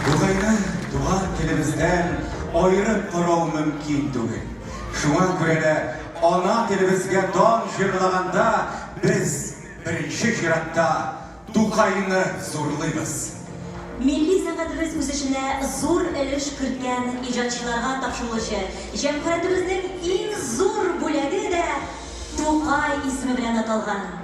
Тукайны туган телебездән аерып карау мөмкин түгел. Шуңа күрә дә ана телебезгә дан җырлаганда без, беренче чиратта, Тукайны зурлыйбыз. Милли сәнгатебез үсешенә зур өлеш керткән иҗатчыларга тапшырылучы җәмгыятебезнең иң зур бүләге дә Тукай исеме белән аталган.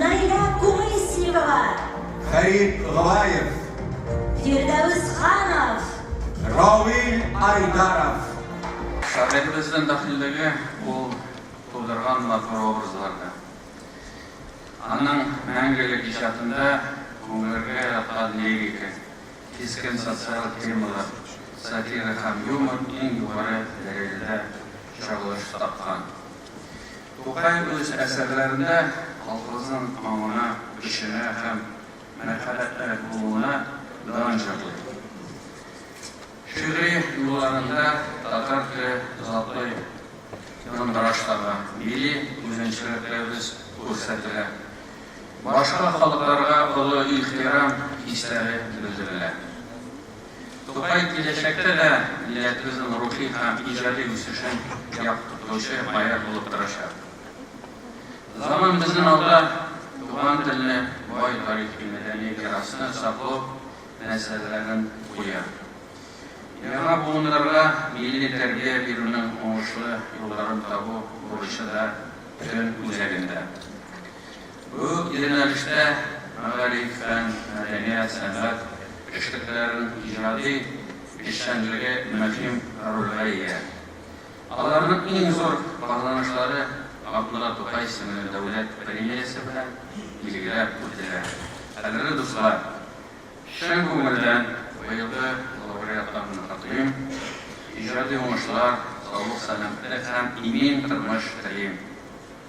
Наилә Кумыйсиева. Фәрит Гылаев. Фирдәвес Ханов. Равил Айдаров. Шагыйребезнең бәхиллеге ул тудырган матур образларда. Аның мәңгелек иҗатында күңелгә яткан лирика, кискен социаль темалар, сатира һәм юмор иң югары дәрәҗәдә чагылыш тапкан. Тукай үз әсәрләрендә колхозның аңына, көченә һәм мәрхәбәтлерәк булуына дан җырлый. Шигъри юлларында татар теле затлый яңгыраш таба, милли үзенчәлекләребез күрсәтелә, башка халыкларга олы ихтирам хисләре белдерелә. Тукай киләчәктә дә милләтебезнең рухи һәм иҗади үсешен яктыртучы поэт булып торачак. Заман безнең алда туган телне, бай тарихи-мәдәни мирасны саклау мәсьәләләрен куя. Яңа буыннарга милли тәрбия бирүнең уңышлы юлларын табу бурычы да төн үзәгендә. Бу юнәлештә мәгариф, фән, мәдәният, сәнгать эшлеклеләренең иҗади эшчәнлеге мөһим рольгә ия. Аларның иң зур казанышлары Габдулла Тукай исемле дәүләт премиясе белән билгеләп үтелә. Кадерле дуслар, чын күңелдән быелгы лауреатларны котлыйм, иҗади уңышлар, саулык-сәламәтлек һәм имин тормыш телим.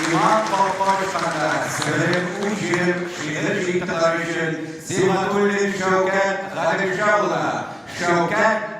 Илмар Колкович хакында Себерем үз җирем шигырь җыентыклары өчен Сибгатуллин Шәүкәт Гаделша улына, Шәүкәт,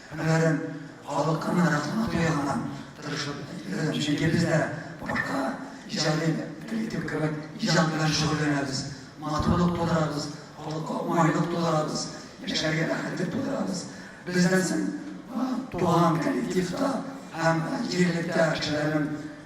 Һөнәрем, халыкыма рәхмәт тоянган, тырышып эзләдем, чөнки без дә башка иҗади коллектив кебек иҗат белән шөгыльләнәбез, матурлык тудырабыз, халыкка уңайлык тудырабыз, яшәргә рәхәтлек тудырабыз. Бездән соң туган коллективта һәм җирлектә кешеләрнең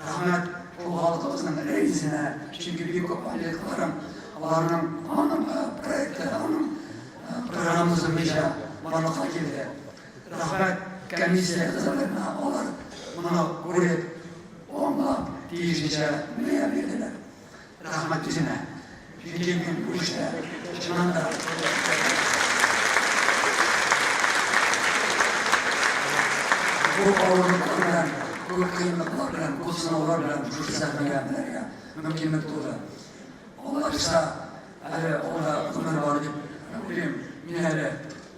Рәхмәт ул халкыбызның рәисенә, чөнки бик күп политикларым аларның аның проекты, аның программасы буенча барлыкка килде. Рәхмәт комиссия әгъзаларына, алар моны күреп, аңлап, тиешенчә мөя бирделәр. Рәхмәт үзенә. Җиде көн күчте. Чыннан да. Бу авырлыклар белән, бу кыенлыклар белән, бу сынаулар белән шушы сәхнәгә менәргә мөмкинлек туды. Алла бирса, әле алда гомер бар дип уйлыйм мин әле.